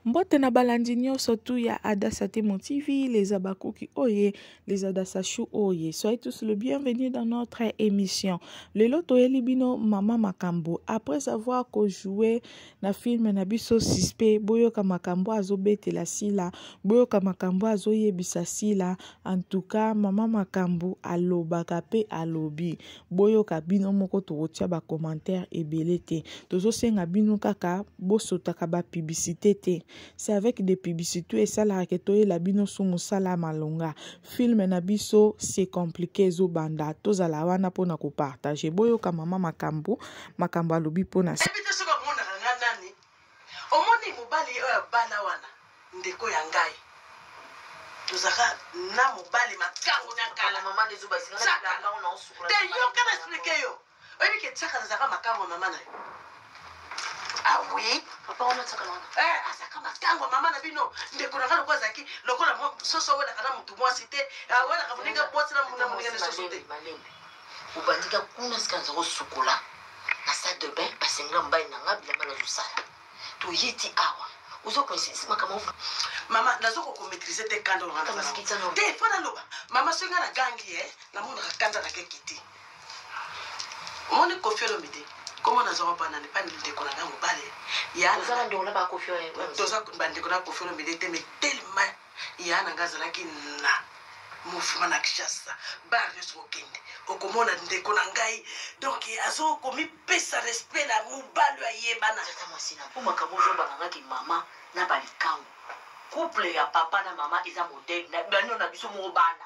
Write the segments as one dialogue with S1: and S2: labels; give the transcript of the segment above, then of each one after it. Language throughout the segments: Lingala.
S1: Mbote na balandi nyoso tu ya Adassa Temo TV, les Abakuki Oye, les Adassa Chou Oye. Soyez tous le bienvenu dans notre émission. Lelo toyeli bino Mama Makambo. Après avoir ko joué na film na biso suspect, boyoka makambo azobetela sila, boyoka makambo azoyebisa sila. En tout cas, Mama Makambo alobaka pe alobi. boyoka bino moko tokotia ba commentaire ebele te tozosenga bino kaka bosotaka ba publicité te c'est avec des publicité esalaka ke toyela bino su mosala malonga filme na biso c'est compliqué ezobanda tozala wana mpona kopartage boyoka mama makambo makambo alobi mpona
S2: Omoni mobali oyo abala wana ndeko ya ngai tozaka na mobali makangu na kala mama ne zuba isinga na kala ona osukula te yo kana explique yo oyebi ke tsaka na zaka makangu mama na yo ah oui papa ona tsaka na eh azaka makangu mama na bino ndeko na kala kwa zaki lokola soso wela kana mutu mwasi te ah, wela kamuninga bwasi na muninga na soso te obandi ka kuna sika naza kosukola na salle de bain basengela mobali na nga bilamba nazosala toye ti awa ozo koinsidisi makambo mama nazo kokomaitrise te kanda te mpo naloba mama soki nga nagangi ye eh, namonaka kanda na keke te omoni kofi olomi te komo nazwaka banani mpa ndeko na nga mobali toza bandeko na bakofi olomide te mais tellement Yaya na nga azalaki na mouvement na Kinshasa bar nyonso okende okomona ndeko na ngai donc azo komipesa respect na mobali ayebana tata mwasi na mpo makambo ozobana ngaki mama na balikango couple ya papa na mama eza modele na bino na biso moko bana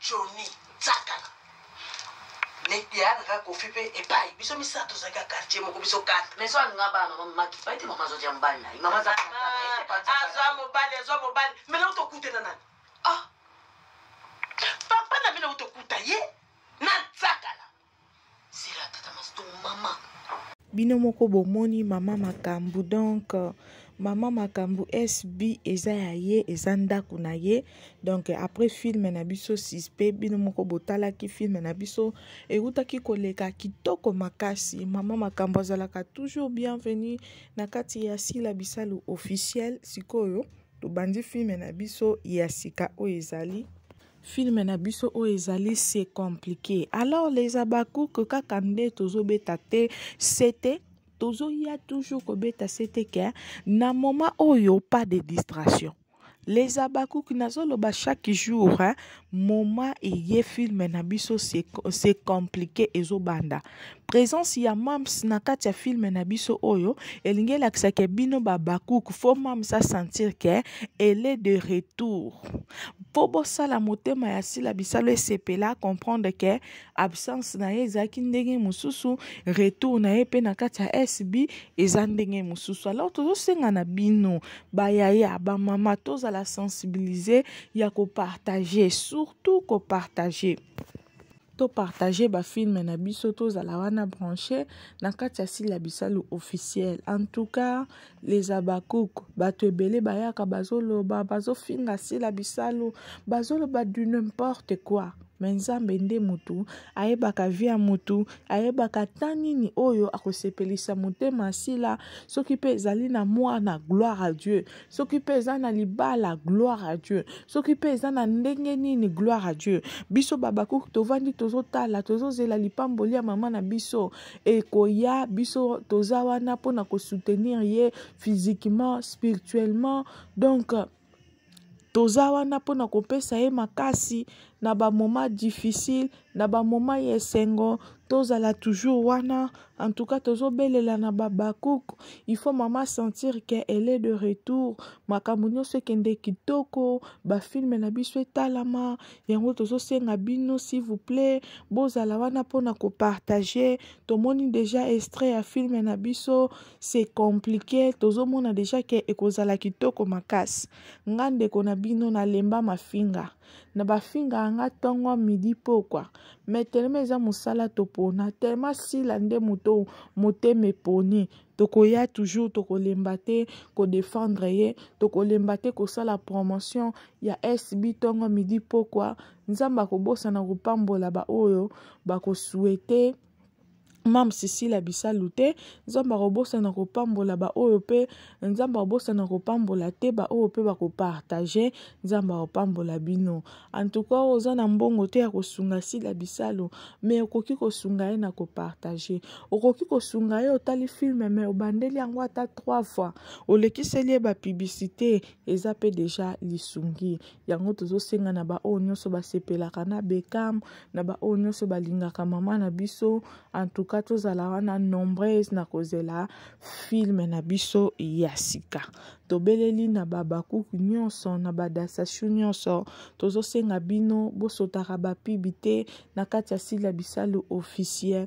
S2: Johnny Tsakala yayaka kofi mpe epai biso misato tozalaki ya quartier moko biso katre mais alinga bana mama maki pai te mama azwaki ya mobali na ye mama azwa ah, mobali azwa mobali me na utokuta na nani ah papa na bino utokuta ye na tsakala Sila tata masto mama. Bino
S1: moko bomoni mama makambu donc mama makambu SB eza ya ye eza ndako na ye donc après film na biso suspect bino moko botalaki film na biso ewutaki koleka kitoko makasi mama makambu azalaka toujours bienvenue na kati ya Sila Bisalu officiel sikoyo tobandi film na biso ya sika oyo ezali Film na biso oyo ezali c'est compliqué. Alors les Habacuc kaka nde tozobeta te, c'était tozoya toujours kobeta c'était que na moment oyo pas de distraction. Les Habacuc nazoloba chaque jour hein, moment eye film na biso c'est c'est compliqué ezobanda. Presence ya Mam's na kati ya film na biso oyo elingi elakisa ke bino ba Habacuc faut Mam's a sentir ke elle est de retour. Mpo bosala motema ya Sila Bisalu esepela comprendre ke absence na ye ezalaki ndenge mosusu, retour na ye mpe na kati ya SB eza ndenge mosusu. Alors tozosenga na bino ba yaya, ba mama tozala sensibiliser ya ko partager, surtout ko partager. to partager ba film na biso tozala wana branche na kati ya sila bisalu officiel en tout cas les abakouk bato ebele bayaka bazoloba bazofinga sila bisalu bazoloba du n'importe quoi me nzambe nde motu ayebaka vi ya motu ayebaka ata nini oyo akosepelisa motema asila soki mpe ezali na mwana gloire à dieu soki mpe eza na libala gloire à dieu soki mpe eza na ndenge nini gloire à dieu biso babakuk tovandi tozotala tozozela lipamboli ya mama na biso ekoya biso toza wana mpo na kosoutenir ye physiquement spirituellement donc toza wana mpo na kopesa ye makasi na bamoma difficile na bamoma ya esengo tozala toujours wana en tout cas tozobelela na babakuk il faut mama sentir ke elle est de retour makambo nyonso ekende kitoko bafilme na biso etalama yango tozosenga bino s'il vous plaît bozala wana mpona kopartage tomoni deja extrait ya filme na biso c'est compliqué tozomona deja ke ekozala kitoko makasi nga ndeko na bino nalemba mafinga na bafingaka nga ntongo midi pokwa me telema eza mosala topona telema sila nde moto motema eponi tokoya toujours tokolemba te kodefendre ye tokolemba te kosala promotion ya sb ntongo midi pokwa nzambe akobosana kopambola baoyo bakosuete ba Mam Cecilia Bisalu te Nzambe akobosana kopambola baoyo mpe Nzambe akobosana kopambola te baoyo mpe bakopartage Nzambe akopambola bino antuka oyo oza na mbongo te ya kosunga Sila Bisalu me okoki kosunga ye na kopartage okoki kosunga ye otali filme me obandeli yango ata 3 fois olekiseli ye bapiblisite eza mpe deja lisungi yango tozosenga na baoyo nyonso basepelaka na bekam na baoyo nyonso balingaka mama na biso antuka tozala wana nombreuse na kozela filme na biso ya sika tobeleli na babakuku nyonso na badasashu nyonso tozosenga bino bosotaka bapibi te na kati ya sila bisalu officiel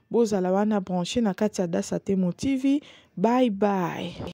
S1: Bozala wana branche na kati ya Dasa Temo TV. Bye bye.